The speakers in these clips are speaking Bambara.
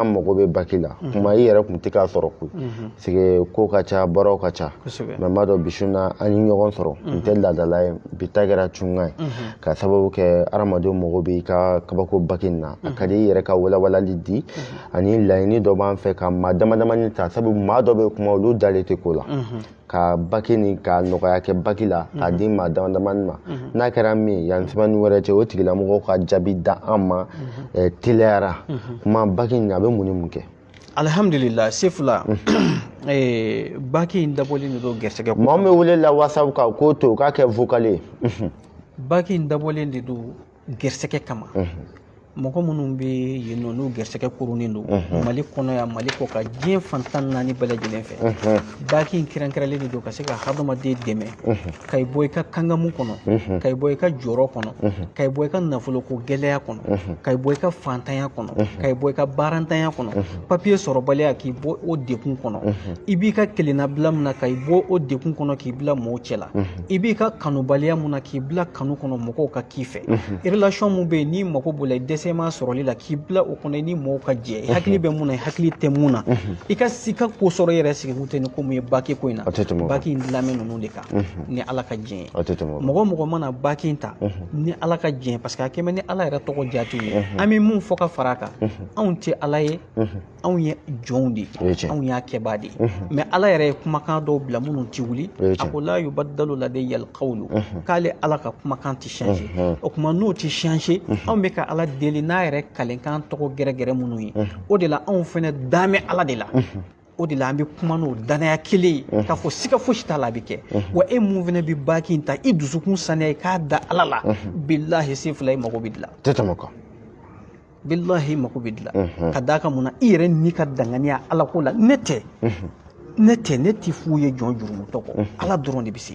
an mago bɛ baki la mhm. kuma i yɛrɛ kun tɛ k'a sɔrɔ koyi mhm. parce que ko ka ca baaraw ka ca mɛ n b'a dɔn bi su na an ye ɲɔgɔn sɔrɔ n mhm. tɛ laadala ye bi ta kɛra cunkan ye ka sababu kɛ adamadenw mago bɛ i ka kabako baki nin na a ka di i yɛrɛ ka walawalali di ani laɲini dɔ b'an fɛ ka maa dama damani ta sabu maa dɔ bɛ kuma olu dalen tɛ ko la ka baki ni ka nɔgɔya kɛ baki la k'a di maa dama damani ma n'a kɛra min ye yanni semaine wɛrɛ cɛ o tigilamɔgɔw ka jaabi da an ma teliyara kuma baki in a bɛ mun ni mun kɛ alihamudulila sefula baki in dabɔlen de don gɛrɛsɛgɛ maa min bɛ wele la whatsapp kan k'o to k'a kɛ vocal ye baki in dabɔlen de don gɛrɛsɛgɛ kama mɔgɔ minnu bɛ yen nɔ n'u gɛrɛsɛgɛ koronnen don mali kɔnɔ yan mali kɔkan diɲɛ fan tan ni naani bɛɛ lajɛlen fɛ baki in kɛrɛnkɛrɛnlen de don ka se ka hadamaden dɛmɛ ka i bɔ i ka kangamu kɔnɔ ka i bɔ i ka jɔrɔ kɔnɔ ka i bɔ i ka nafoloko gɛlɛya kɔnɔ ka i bɔ i ka fantanya kɔnɔ ka i bɔ i ka baarantanya kɔnɔ papiye sɔrɔbaliya k'i bɔ o dekun kɔnɔ i b'i ka kelennabila min na ka i bɔ o dekun kɔnɔ k'i bila mɔɔw cɛla i b'i ka kanubaliya mun na k'i bila kanu kɔnɔ mɔgɔw ka k'i fɛ relation mun bɛ yen n'i mago b'o la i dɛsɛm'a sɔrɔli la k'i bila o kɔnɔ i ni mɔgɔw ka jɛ i hakili bɛ mun na i hakili tɛ mun na i ka si ka ko sɔrɔ i yɛrɛ sigi kun tɛ ni ko mun ye baki ko in na baki in dilamɛ ninnu de kan ni ala ka jɛ ye mɔgɔ o mɔgɔ mana baki in ta ni ala ka jɛ parce que a kɛmɛ ni ala yɛrɛ tɔgɔ jaatiw ye an bɛ mun fɔ ka fara a kan anw tɛ ala ye anw ye jɔnw de ye anw y'a kɛbaa de ye mhm. mɛ ala yɛrɛ ye kumakan dɔw bila minnu ti wuli a ko la yubaddalu ladayyal kawlu mhm. k'ale ala ka kumakan ti change mhm. o kuma n'o ti change anw bɛ ka ala deli n'a yɛrɛ kalenkan tɔgɔ gɛrɛgɛrɛ minnu ye o de la anw fɛnɛ damɛ ala de la o de la an bɛ kuma n'o danaya kelen ye k'a fɔ siga fosi t'a la a bɛ kɛ wa e mun fɛnɛ bɛ baki in ta i dusukun saniya i ka da ala la bilahi sefula i mago bɛ dilan tɛ tɛmɛ kan bilahi i mako bɛ dilan ka d'a kan mun na i yɛrɛ n'i ka danganiya ala ko la ne tɛ ne tɛ ne tɛ fu ye jɔn jurumutɔ kɔ ala dɔrɔn de bɛ se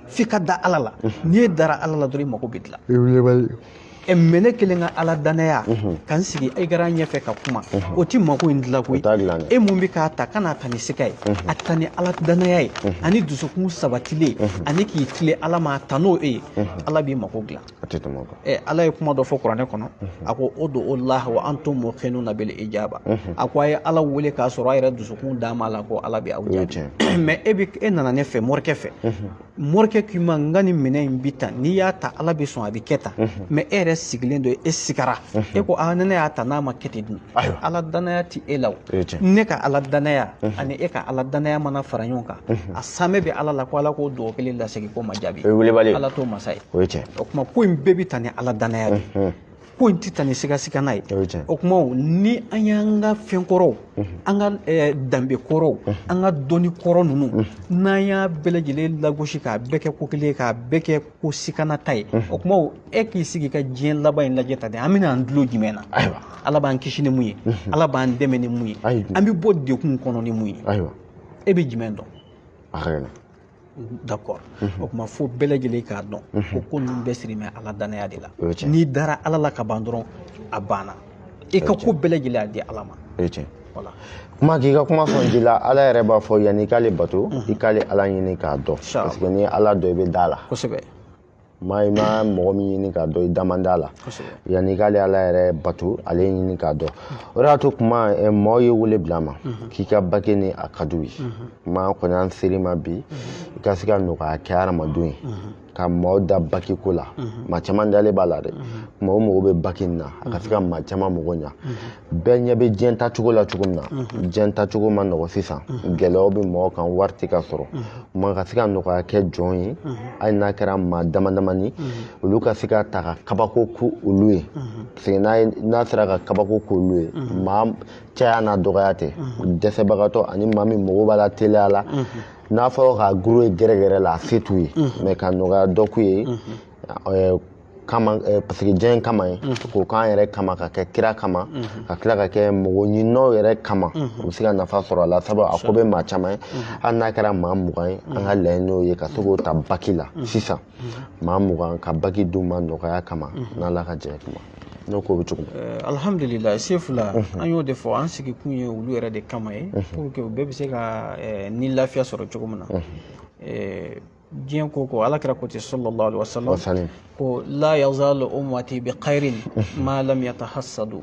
f'i ka da ala la n'i dara ala la dɔrɔn i mako bɛ dilan ɛ mɛ ne kelen ka ala danaya ka n sigi écran ɲɛfɛ ka kuma o ti mako in dilan koyi e mun bɛ k'a ta kan'a ta ni sika ye a ta ni ala danaya ye ani dusukun sabatilen ani k'i tilen ala ma a ta n'o e ye ala b'i mako dilan a tɛ tɛmɛ o kan ɛ ala ye kuma dɔ fɔ kuranɛ kɔnɔ a ko udu'ullaha wa antum muqinuna bil ijaba a ko a ye ala wele k'a sɔrɔ a yɛrɛ dusukun dam'a la ko ala bɛ aw jaabi mɛ e bɛ e nana ne fɛ morikɛ fɛ morikɛ k'i ma n ka nin minɛn in bi tan n'i y'a ta ala bɛ sɔn a bɛ kɛ tan mɛ e yɛrɛ sigilen don e sigara e ko a ne y'a ta n'a ma kɛ ten dun ayiwa ala danaya tɛ e la o ne ka ala danaya ani e ka ala danaya mana fara ɲɔgɔn kan a saamɛ bɛ ala la ko ala k'o dugawu kelen lasegin k'o ma jaabi o ye wulibali ala t'o masa ye o ye tiɲɛ o kuma ko in bɛɛ bɛ ta ni ala danaya de ye ko in tɛ ta ni sigasigana ye o kuma ni an y'an ka fɛn kɔrɔw an ka danbe kɔrɔw an ka dɔnni kɔrɔ ninnu n'an y'a bɛɛ lajɛlen lagosi k'a bɛɛ kɛ ko kelen k'a bɛɛ kɛ ko sikanata ye o kuma e k'i sigi ka diɲɛ laban in lajɛ ta de an bɛna an dulo jumɛn na ayiwa ala b'an kisi ni mun ye ala b'an dɛmɛ ni mun ye an bɛ bɔ degun kɔnɔ ni mun ye ayiwa e bɛ jumɛn dɔn a ka gɛlɛn d'accord o kuma fo bɛɛ lajɛlen k'a dɔn ko ko ninnu bɛɛ siri bɛ ala danaya de la n'i dara ala la ka ban dɔrɔn a banna i ka ko bɛɛ lajɛlen a di ala ma o ye tiɲɛ voilà kuma k'i ka kuma sɔn ji la ala yɛrɛ b'a fɔ yanni i k'ale bato i k'ale ala ɲini k'a dɔn sûr parce que n'i ye ala dɔn i bɛ da a la kosɛbɛ mais i ma mɔgɔ min ɲini k'a dɔn i da man d'a la kosɛbɛ yanni i k'ale ala yɛrɛ bato ale ɲini k'a dɔn o de y'a to kuma eh, maaw ye wele bila an ma k'i ka baki nin a ka d'u ye kuma kɔni an ser'i ma bi i ka se ka nɔgɔya kɛ hadamadenw ye ka maaw da baki ko la maa caman dalen b'a la dɛ kuma u mago bɛ baki in na a ka se ka maa caman mago ɲa bɛɛ ɲɛ bɛ diɲɛ tacogo la cogo min na diɲɛ tacogo ma nɔgɔ sisan gɛlɛyaw bɛ mɔgɔw kan wari tɛ ka sɔrɔ mais ka se ka nɔgɔya kɛ jɔn ye hali n'a kɛra maa dama damani olu ka se k'a ta ka kabako k'olu ye parce que n'a sera ka kabako k'olu ye maa caya n'a dɔgɔya tɛ dɛsɛbagatɔ ani maa min mago b'a la teliya la n'a fɔra k'a kur'u ye gɛrɛgɛrɛ la a se t'u ye mɛ ka nɔgɔya dɔ k'u ye ɛɛ, kama ɛɛ, paseke diɲɛ in kama ye k'o k'an yɛrɛ kama k'a kɛ kira kama ka tila k'a kɛ mɔgɔ ɲininaw yɛrɛ kama u bɛ se ka nafa sɔrɔ a la sabu a ko bɛ maa caman ye hali n'a kɛra maa mugan ye an ka laɲini y'o ye ka se k'o ta baki la sisan maa mugan ka baki d'u ma nɔgɔya kama n'ala ka jɛ kuma n'o ko bɛ cogo min eh, alhamdulila sefula an y'o de fɔ an sigikun ye olu yɛrɛ de kama ye pour que u bɛɛ bɛ se ka eh, ni lafiya sɔrɔ cogo min na eh, diɲɛ ko ko ala kira ko ten sallallahu alaihi wasallam ko la yazalu ummati bi khairin ma lam yatahassadu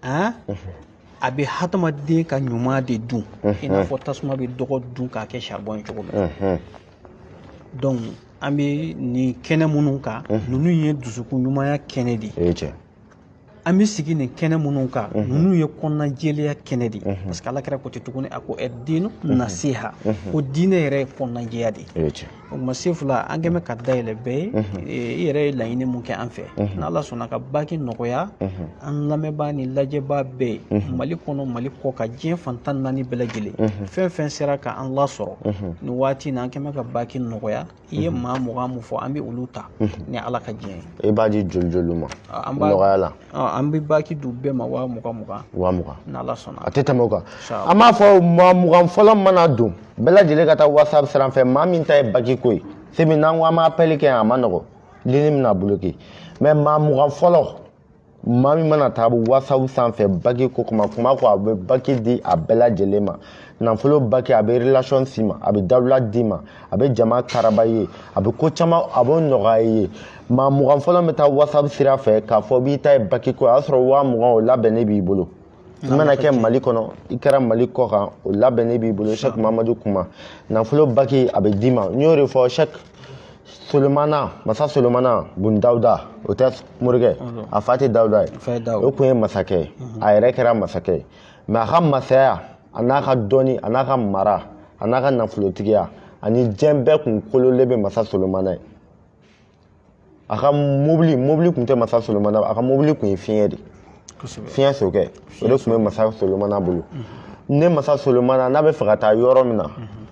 a bɛ hadamaden ka ɲuman de dun i n'a fɔ tasuma bɛ dɔgɔ dun k'a kɛ saribɔn cogo min donc an bɛ nin kɛnɛ minnu kan ninnu ye dusukun ɲumanya kɛnɛ de ye an bɛ sigi nin kɛnɛ minnu kan ninnu ye kɔnɔna jɛlenya kɛnɛ de ye parce que ala kira ko ten tuguni a ko addinu nasiha ko diinɛ yɛrɛ ye kɔnɔna jɛya de ye o tuma sefula an kɛn bɛ ka da yɛlɛ bɛɛ ye i yɛrɛ ye laɲini mun kɛ an fɛ n' ala sɔnna ka baki nɔgɔya an lamɛnbaa ni lajɛbaa bɛɛ ye mali kɔnɔ mali kɔkan diɲɛ fan tan ni naani bɛɛ lajɛlen fɛn fɛn sera ka an lasɔrɔ nin waati in an kɛn bɛ ka baki nɔgɔya i ye maa mugan mun fɔ an bɛ olu ta ni ala ka diɲɛ ye e b'a di joli joli u ma nɔgɔya la an bɛ baki di bɛɛ ma waa mugan mugan waa mugan n'ala sɔnna a tɛ tɛmɛ o kan an b'a fɔ maa mugan fɔlɔ mana don bɛɛ lajɛlen ka taa whatsapp sira fɛ maa min ta ye baki ko ye semi n'an ko an b'apɛli kɛ a man nɔgɔ lini bɛna bloke mɛ maa mugan fɔlɔ maa min mana taa whatsapp sanfɛ baki ko kuma kuma ko a bɛ baki di a bɛɛ lajɛlen ma nafolo baki a bɛ relation d'i ma a bɛ dawula d'i ma a bɛ jama karaba i ye a bɛ ko caman a b'o nɔgɔya i ye maa mugan fɔlɔ bɛ taa whatsapp sira fɛ k'a fɔ b'i ta ye baki ko o y'a sɔrɔ waa mugan o labɛnnen b'i bolo i mana kɛ mali kɔnɔ i kɛra mali kɔ kan o labɛnnen b'i bolo shek mamadu kuma nafolo baki a bɛ d'i ma n y'o de fɔ shek solomana masa solomana bun dawuda o tɛ morikɛ a fa tɛ dawuda ye o tun ye masakɛ ye a yɛrɛ kɛra masakɛ ye mɛ a ka masaya a n'a ka dɔnni a n'a ka mara a n'a ka nafolotigiya ani diɲɛ bɛɛ kun kololen bɛ masa solomana ye a ka mobili mobili tun tɛ masa solomana a ka mobili tun ye fiɲɛ de fiɲɛ sokɛ o de tun bɛ masa solomana bolo ne masa solomana n'a b'a fɛ ka taa yɔrɔ min na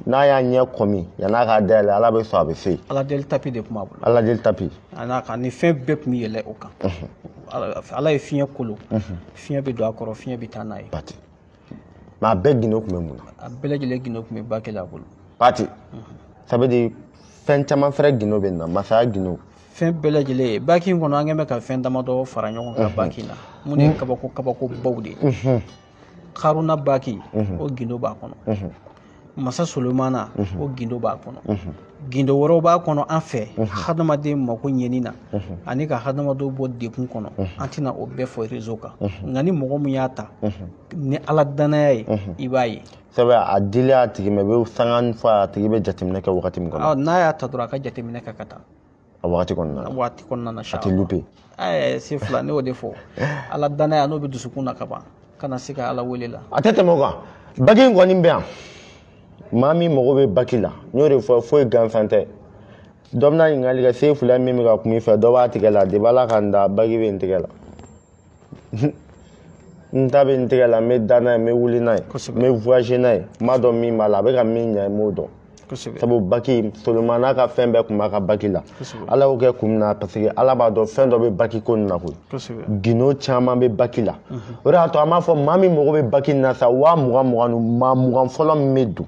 n'a y'a ɲɛ kɔmi yann'a k'a dayɛlɛ ala bɛ sɔn a bɛ se ala deli tapi de tun b'a bolo ala deli tapi an'a ka ni fɛn bɛɛ tun bɛ yɛlɛ o kan ala ye fiɲɛ kolo fiɲɛ bɛ don a kɔrɔ fiɲɛ bɛ taa n'a ye mɛ a bɛɛ gindo tun bɛ mun na a bɛɛ lajɛlen gindo tun bɛ baki la a bolo pati ça veut dire fɛn caman fɛrɛ gindo bɛ na masaya gindo fɛn bɛɛ lajɛlen baki in kɔnɔ an kɛn bɛ ka fɛn damadɔ fara ɲɔgɔn kan baki in na min ye kabako kabako baw de ye karuna baki o gindo b'a kɔnɔ masa solomana mhm. o gindo b'a kɔnɔ mhm. gindo wɛrɛw b'a kɔnɔ an fɛ mhm. hadamaden mako ɲɛni na ani ka hadamadenw bɔ dɛgun kɔnɔ an tɛna o bɛɛ fɔ rezo kan nka ni mɔgɔ min y'a ta ni ala danaya ye i b'a ye sɛbɛ a dili a tigi ma i bɛ sanga fɔ a tigi bɛ jateminɛ kɛ wagati min kɔnɔ n'a y'a ta dɔrɔn a ka jateminɛ kɛ ka taa a waati kɔnɔna na waati kɔnɔna na a tɛ lupe ɛɛ sefila ne y'o de fɔ ala danaya n'o bɛ dusukun na ka ban ka na se ka ala wele la a tɛ tɛmɛ o kan baki in kɔni bɛ yan maa min mago bɛ baki la n y'o de fɔ foyi gansan tɛ dɔ bɛna ɲininkali kɛ sefila min bɛ ka kuma i fɛ dɔ b'a tigɛ la depi ala ka n da baki bɛ n tigɛ la n ta bɛ n tigɛ la n bɛ da n'a ye n bɛ wuli n'a ye n bɛ voyager n'a ye n b'a dɔn min b'a la a bɛ ka min ɲɛ n b'o dɔn sabu baki solomana ka fɛn bɛɛ tun b'a ka baki la ala y'o kɛ kun min na parce que ala b'a dɔn fɛn dɔ bɛ baki ko nin na koyi gindo caman bɛ baki la o de y'a to an b'a fɔ maa min mago bɛ baki nin na sa waa mugan mugan ni maa mugan fɔlɔ min bɛ don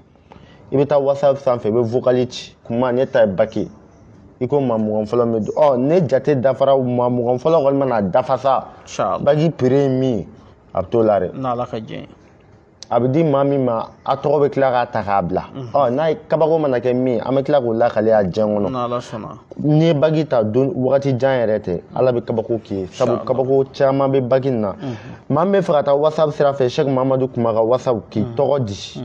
i bɛ taa whatsapp sanfɛ i bɛ vocali ci kuma ne ta ye baki i ko maa mugan fɔlɔ min bɛ don ɔ ne jate dafara maa mugan fɔlɔ kɔni mana dafa sa baki prix ye min ye a bɛ t'o la dɛ n'ala ka jɛ a bɛ di maa min ma a tɔgɔ bɛ tila k'a ta k'a bila ɔ n'a ye kabako mana kɛ min an bɛ tila k'o lakale a diɲɛ kɔnɔ n'ala sɔnna n'i ye baki ta don wagati jan yɛrɛ tɛ ala bɛ kabako k'i ye sabu kabako caman bɛ baki nin na maa min bɛ fɛ ka taa whatsapp sira fɛ sɛki mamadu kuma ka whatsapp k'i tɔgɔ di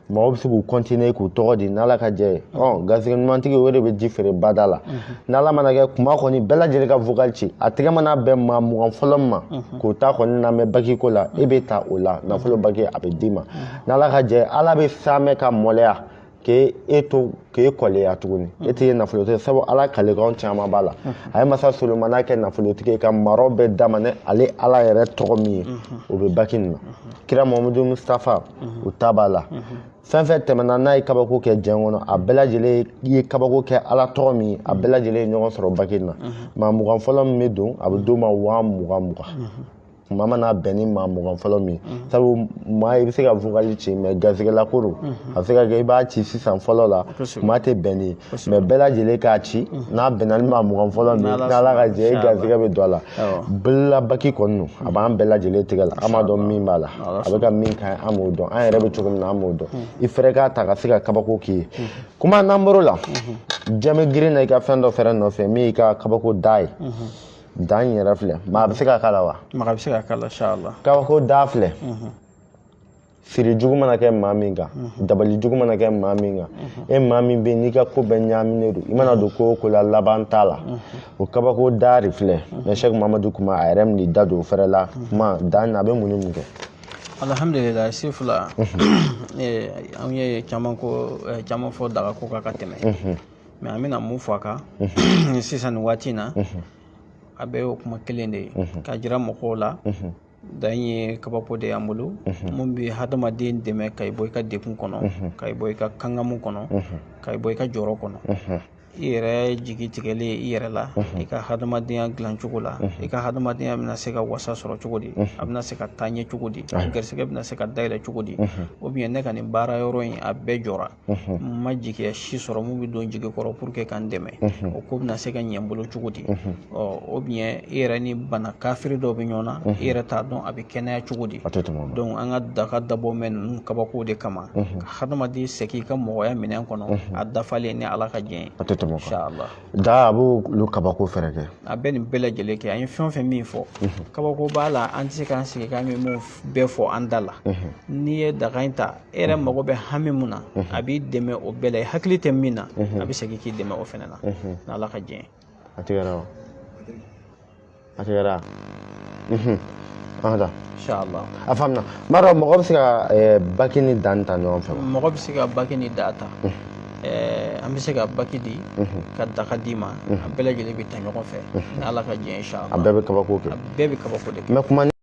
mɔgɔ bɛ se k'u kɔntine k'u tɔgɔ di n'ala ka jɛ ye ɔ garisɛgɛ ɲumantigi o de bɛ ji feere bada la n'ala mana kɛ kuma kɔni bɛɛ lajɛlen ka vocal ci a tɛgɛ mana bɛn maa mugan fɔlɔ min ma k'o ta kɔni lamɛn baki ko la e bɛ ta o la nafolo baki a bɛ d'i ma n'ala ka jɛ ala bɛ saamɛ ka maloya k'e to k'e kɔleya tuguni e tɛ ye nafolotigi sabu ala kalikanw caman b'a la a ye masa solomana kɛ nafolotigi ye ka maraw bɛɛ d'a ma ni ale ala yɛrɛ tɔgɔ min ye o bɛ baki nin na kira mahamadu mustafa u ta b'a la fɛn fɛn tɛmɛna n'a ye kabako kɛ diɲɛ kɔnɔ a bɛɛ lajɛlen ye kabako kɛ ala tɔgɔ min a bɛɛ lajɛlen ye ɲɔgɔn sɔrɔ baki nin na maa mugan fɔlɔ min bɛ don a bɛ d'o ma waa mugan mugan kuma mana bɛn ni maa mugan fɔlɔ min ye sabu maa i bɛ se ka vokali ci mais garisɛgɛla ko don a bɛ se ka kɛ i b'a ci sisan fɔlɔ la kuma tɛ bɛn n'i ye mais bɛɛ lajɛlen k'a ci n'a bɛnna ni maa mugan fɔlɔ min n'ala ka jɛ i garisɛgɛ bɛ don a la baki kɔni don a b'an bɛɛ lajɛlen tigɛ la an b'a dɔn min b'a la a bɛ ka min k'an ye an b'o dɔn an yɛrɛ bɛ cogo min na an b'o dɔn i fɛrɛ k'a ta ka se ka kabako k'i ye kuma n'an bɔr'o la jama girinna i ka fɛn dɔ fɛrɛ nɔfɛ min y'i ka kabako da ye da in yɛrɛ filɛ maa bɛ se ka k'a la wa maa bɛ se ka k'a la kabako da filɛ siri jugu mana kɛ maa min kan mhm. dabali jugu mana kɛ maa min kan mhm. e maa min bɛ n'i ka ko bɛɛ ɲaaminen don i mana don ko o ko la laban t'a la mhm. o kabako da de filɛ mais sɛki mamadu kuma a yɛrɛ min da don o fɛrɛ la kuma da nin a bɛ mun ni mun kɛ alhamdulilayi si fila eh, an ye caman ko eh, caman fɔ daga ko kan ka tɛmɛ mais an bɛna mun fɔ a kan sisan nin waati in na a bɛ o kuma kelen de ye ka jira mɔgɔw la da ye kabako de y'an bolo mun bɛ hadamaden dɛmɛ ka i bɔ i ka degun kɔnɔ ka i bɔ i ka kangamu kɔnɔ ka i bɔ i ka jɔrɔ kɔnɔ i yɛrɛ jigi tigɛlen i yɛrɛ la i ka hadamadenya dilan cogo la i ka hadamadenya bɛna se ka wasa sɔrɔ cogo di a bɛna se ka taa ɲɛ cogo di garisɛgɛ bɛna se ka dayɛlɛ cogo di ou bien ne ka nin baara yɔrɔ in a bɛɛ jɔra n ma jigiya si sɔrɔ mun bɛ don jigi kɔrɔ pour que ka n dɛmɛ o ko bɛna se ka ɲɛ n bolo cogo di ɔ ou bien i yɛrɛ ni bana kafiri dɔ bɛ ɲɔgɔn na i yɛrɛ t'a dɔn a bɛ kɛnɛya cogo di donc an ka daga dabɔ mɛn ninnu kabakow de kama ka hadamaden segin i ka mɔgɔya minɛn kɔnɔ a dafalen ni ala ka jɛn ye da a b'olu kabako fɛnɛ kɛ a bɛ nin bɛɛ lajɛlen kɛ an ye fɛn o fɛn min fɔ kabako b'a la an tɛ se k'an sigi k'an bɛ mun bɛɛ fɔ an da la n'i ye daga in ta e yɛrɛ mago bɛ hami mun na a b'i dɛmɛ o bɛɛ la i hakili tɛ min na a bɛ segin k'i dɛmɛ o fɛnɛ na n'ala ka jɛn a tigɛra wa a tigɛra Ada. Inshallah. A faamuna. N m'a dɔn mɔgɔ bɛ se ka eh, baki ni daa ta ɲɔgɔn fɛ wa? Mɔgɔ bɛ se ka baki ni daa ta. Mhm. Eh, an bɛ se ka baki di mhm. ka daga d'i ma mhm. a bɛɛ lajɛlen bɛ ta ɲɔgɔn fɛ ni ala ka jɛn inshallah a bɛɛ bɛ kabako kɛ a bɛɛ bɛ kabako de kɛ